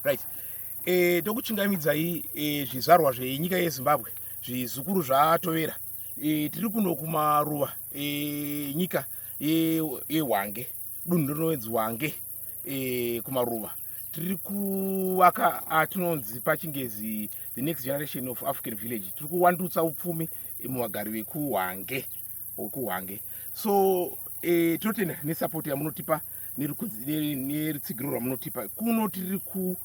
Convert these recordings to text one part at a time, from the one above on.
right e, eh, tokuchingamidzai e, eh, zvizvarwa zvenyika yezimbabwe zvizukuru zvatovera e, tiri kuno kumaruva e, nyika yehwange e, dunhu rinoenzi wange e, kumaruva tiri kuvaka atinonzi pachingezi the next generation of african village tiri kuwandutsa upfumi muvagari vekuhwange okuhwange so e, tinotenda nesupport yamunotipa nerutsigiro rwamunotipa kuno tiri ku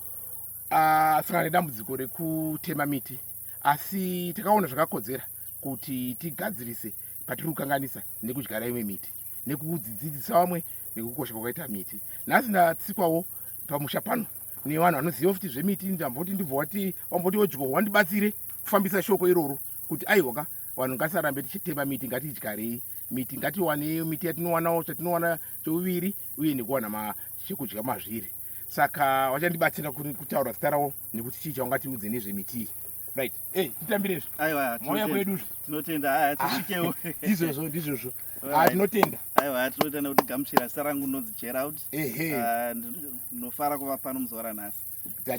ah, sangana nedambudziko rekutema miti asi takaona zvakakodzera kuti tigadzirise patiri kukanganisa nekudyara imwe miti nekudzidzisa vamwe nekukosha kwakaita miti nhasi ndatsikwawo pamusha pano nevanhu vanoziva futi zvemiti ndamboti ndibvowati wamboti odyohwa ndibatsire kufambisa shoko iroro kuti aiwaka vanhu ngatisarambe tichitema miti ngatidyarei miti ngatiwanei miti yatinowanawo chatinowana chouviri uye nekuwana chekudya mazviri saka vachandibatsira kutaura zita ravo nekuti chii chaungatiudze nezvemitii right ey titambirezvo aiwa mauya kwedu tinotenda aya tisvikewo ah, izvozvo ndizvozvo ah, tinotenda aiwa tinotenda kuti gamuchira zita rangu ndinonzi gerald ehe ah, ndinofara kuva pano muzuva ranhasi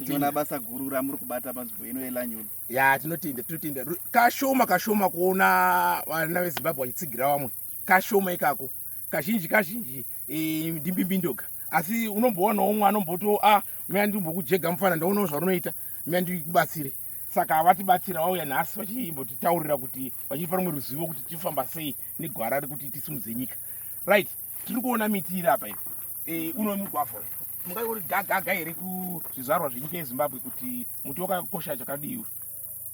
tinoona basa guru ramuri kubata panzvimbo ino yelanyon ya tinotenda tinotenda kashoma kashoma kuona vana vezimbabwe vachitsigira vamwe kashoma ikako kazhinji kazhinji e, ndimbimbindoga asi unomboonawo umwe anombotiwo a ah, mea ndimbokujega mufana ndaonawo zvarunoita mea ndikubatsire saka havatibatsira vauya nhasi vachimbotitaurira kuti vachitipa rumwe ruzivo kuti tifamba sei negwara rekuti tisimudze nyika right tiri kuona miti iri apa iri Eh, uno mugwavha mungai uri gagaga here kuzvizvarwa zvenyika yezimbabwe kuti muti wakakosha chakadii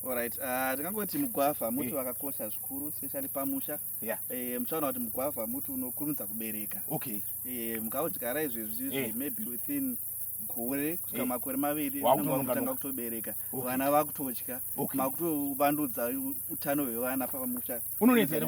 Alright, uh, tingangoti mugwavha muti eh. wakakosha zvikuru especially pamusha yeah. E, muchaona kuti mugwavha muti unokurumidza kubereka okay. E, mukaudyara izvezvi yeah. maybe within gore kusvika yeah. makore maviri unenge wakutanga kutobereka okay. vana vakutodya okay. makutovandudzaa utano hwevana pamusha unonetsa here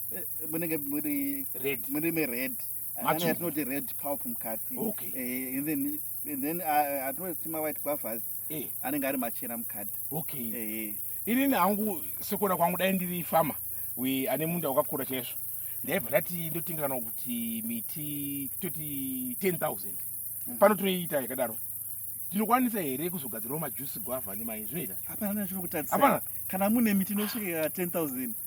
eh, munenge muri red muri me red ane atinoti red pulp mukati okay eh, and then and then uh, atinoti ma white guavas eh anenge ari machena mukati okay eh ini nangu sekuona kwangu dai ndiri farmer we ane munda wakakura chaizvo ndaibva ndati ndotenga kana kuti miti toti 10000 mhm. pano tinoiita yakadaro tinokwanisa here kuzogadzirawo majusi gwavha nemayi zvinoita hapana kana mune miti inosvika 10000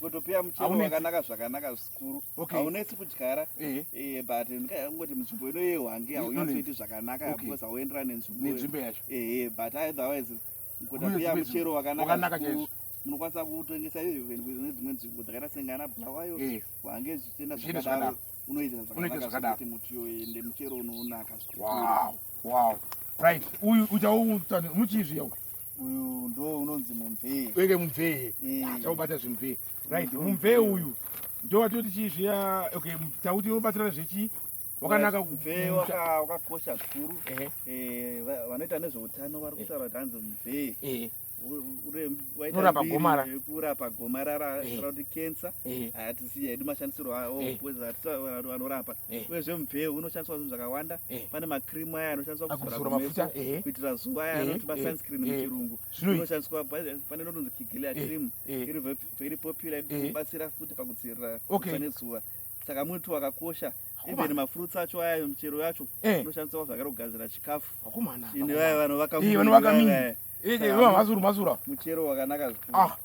kutopia muchero wakanaka zvakanaka zvikuru haunetsi kudyara eh. Eh, but ndikangoti munzvimbo ino yehwange haunyasoiti zvakanaka because hauenderani nenzvimbo yacho eh, but otherwise kutopia muchero wakanaka zvikuru munokwanisa kutengesa even kune dzimwe nzvimbo dzakaita sengana bulawayo hwange zvichienda zvakadaro unoita zvakanaati muti yoende muchero unoonaka wow wow right uyu uchaomuchizviya uyu ndo unonzi mumvee wenge mumvee achaubata eh. zvimvee right mumvee uyu ndo watoti chii zviya okay tauti unobatsira zvechii wakanaka mvee wakakosha zvikuru eh, vanoita nezveutano vari kutaura kuti hanzi mvee eh. unorapa gomarara kurapa gomarara kuti kensa siya hedu mashandisirwo awo eh. anorapa eh. uyezve mubveu unoshandiswa zvinhu zvakawanda eh. pane makrimu aya anoshandiswa kuzora mafuta kuitira zuva aya anoti masunscreen muchirungu inoshandiswa pane inotonzi kigilia krimu iri very popular ikubatsira futi pakudzivirira kusa nezuva saka muti wakakosha okay. even mafruits acho aya michero yacho eh. inoshandiswa zvakare kugadzira chikafu ine vaya vanovakamuchero wakanaka ah,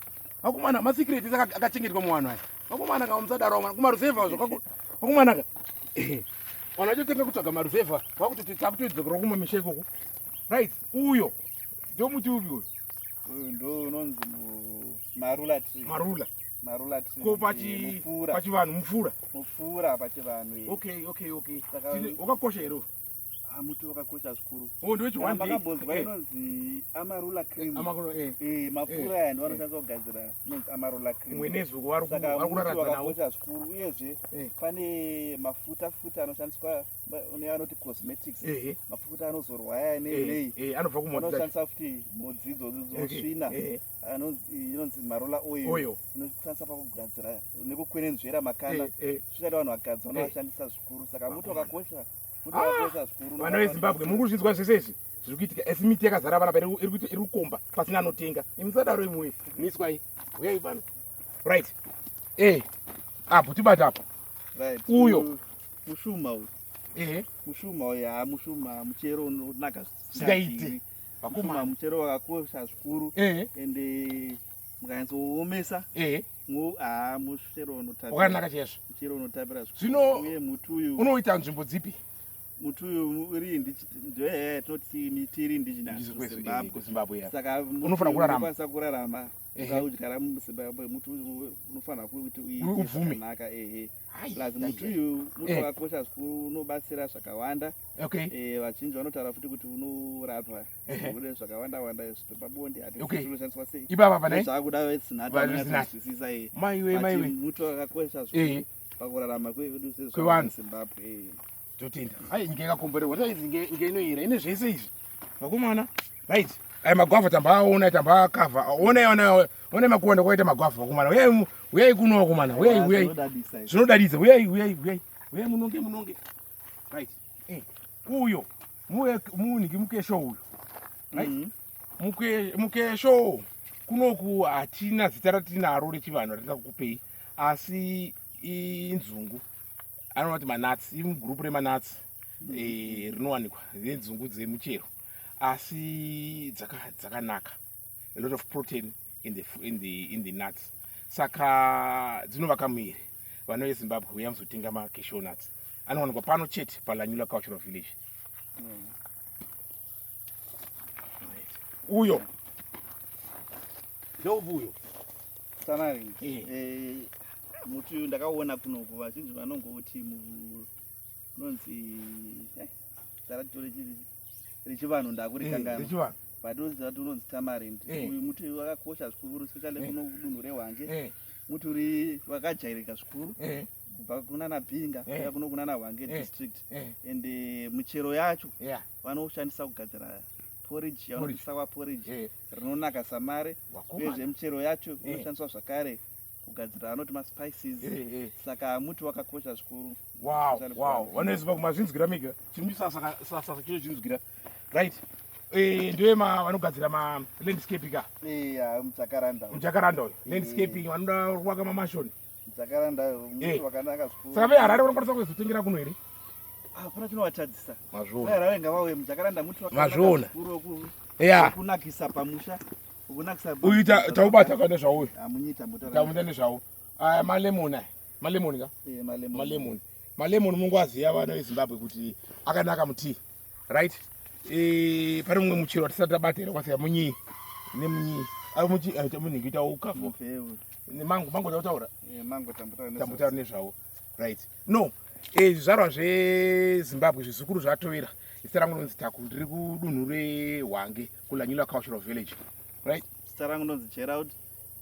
vakomana masecret ese akachengetwa muvanhu aya vakomana ka musadaro vamwana kumaruzevha zvakako vakomana ka vanhu vachotanga kutsvaga maruzevha vakuti takutoidzokera kumwe misha ikoko right uyo ndomuti upi uyo uyu ndo unonzi marula marula marula tree ko pachi eh, mupfura pachivanhu mupfura mupfura pachivanhu eh. okay okay okay Saka- Tine- wakakosha here uyu? ah muti wakakosha zvikuru oh ndiwe chiwande makambonzwa inonzi amarula cream amakoro eh eh mapfura aya ndiwo anoshandiswa kugadzira inonzi amarula cream mwenezi uko wari ku- saka wari muti kuraradza nawo wakakosha zvikuru uyezve Eh. pane mafuta futa anoshandiswa ba- une anoti cosmetics ehe mafuta anozorwa aya nei eh nei eh anobva kumota anoshandisa futi mhodzi idzodzo dzosvina Eh, eh. inonzi marola oil inoshandisa pakugadzira nekukwenenzvera makanda zvichada vanhu vakadzi vanovashandisa zvikuru saka muti wakakosha muti wakakosha ah! zvikuru vana vezimbabwe muri kuzvinzwa zvese izvi zviri kuitika asi miti yakazara vana pari iri kukomba pasina anotenga imisadaro imwe miswai uyai pano right e apo tibata apo uyo mushuma uyu ehe mushuma uyu haa mushuma muchero unonaka zvisingaiti Vakoma muchero wakakosha zvikuru eh. and eh, mukanyatsoomesa eh. ah, muchero unotakanaka chaizvo muchero unotapira zvino uye muti uyu unoita nzvimbo dzipi muti uyu uri ndoyaya tinoti miti iri ndijinaszimbabwe saka unofanira kuraramaasa kurarama ukaudyara muzimbabwe muti unofanira kuti uibvumenaka ehe plus muti uyu muti eh. wakakosha zvikuru unobatsira zvakawanda okay eh vazhinji vanotaura futi kuti unorapa kune zvakawanda wanda izvo pabonde ati okay unoshandiswa sei ibaba pane zvakuda vesinata vanozwisisa eh maiwe maiwe muti wakakosha zvikuru pakurarama kwedu sezvo kwevanhu Zimbabwe totenda ai nyika yakakomborerwa taizi nyika inoyera ine zvese izvi vakomana right ai magwavha tambaaona tambaakavha onai onai onai makuwanda kwaita magwavha vakomana uyai uyai kuno vakomana uyai uyai zvinodadidza uyai uyai uyai uyai munonge munonge right eh, uyo muniki mukesho uyo right mm -hmm. mukesho kunoku hatina zita ratinaro rechivanhu ratingakukupei asi inzungu anoona kuti manats imugurupu remanats mm. eh, rinowanikwa nenzungu dzemuchero asi dzakanaka a lot of protein in the, in the, in the nuts saka dzinovaka muviri vanouye zimbabwe uya muzotenga macashow nuts anowanikwa pano chete palanyula cultural village mm. uyo ndoupi uyo sanaringi eh. eh, muti uyu ndakaona kunoku vazhinji vanongouti unonzi eh, taratore chii rechivanhu ndakurikangaa eh, but unoziva kuti unonzi tamarind eh. uyu muti uyu wakakosha zvikuru especially kuno kudunhu rehwange muti uri wakajairika zvikuru kubva kunana pinga kuya kuno kunana hwange district and muchero yacho vanoshandisa kugadzira porridge yavanobvisa kwa porridge eh. rinonaka samare uyezve michero yacho eh. inoshandiswa zvakare kugadzira anoti maspices eh, saka muti wakakosha zvikuru vanoziva kumazvinzwira mega chimusasasasa chino chinzwira right ndiwe vanogadzira malandscape ka mujakaranda uyo landscaping vanoda kuvaka mamashoni saka veharare vanokwanisa kuzotengera kuno here hapana chinovatadzisa mazvionaharare ngavauye mujakaranda muti mazviona kunakisa pamusha uyu taubata kane zvauyu tamuita nezvau aya malemoni aya malemoni ka malemoni malemoni mungu aziva vana vezimbabwe kuti akanaka mutii right eh pane mumwe muchero watisati tabata here kwasiya munyi nemunyi ari muchi aita munhu kuita ukafu nemango mango tautaura eh, mango tambotaura nezvawo right no eh zvizvarwa zvezimbabwe zvizukuru zvatovera zita rangu nonzi taku ndiri kudunhu rehwange kulanyula cultural village right zita rangu nonzi gerald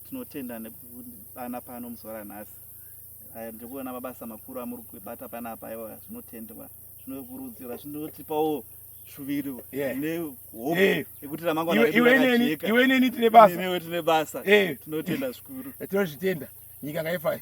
tinotenda nekudana pano muzuva ranhasi Aya ndiri kuona mabasa makuru amuri kubata panapa aiwa zvinotendwa zvinokurudzirwa zvinotipawo shuviro nehope eh. yekuti ramangwanaiwe neni tine basa tinotenda zvikuru eh, tinozvitenda nyika ngaifayo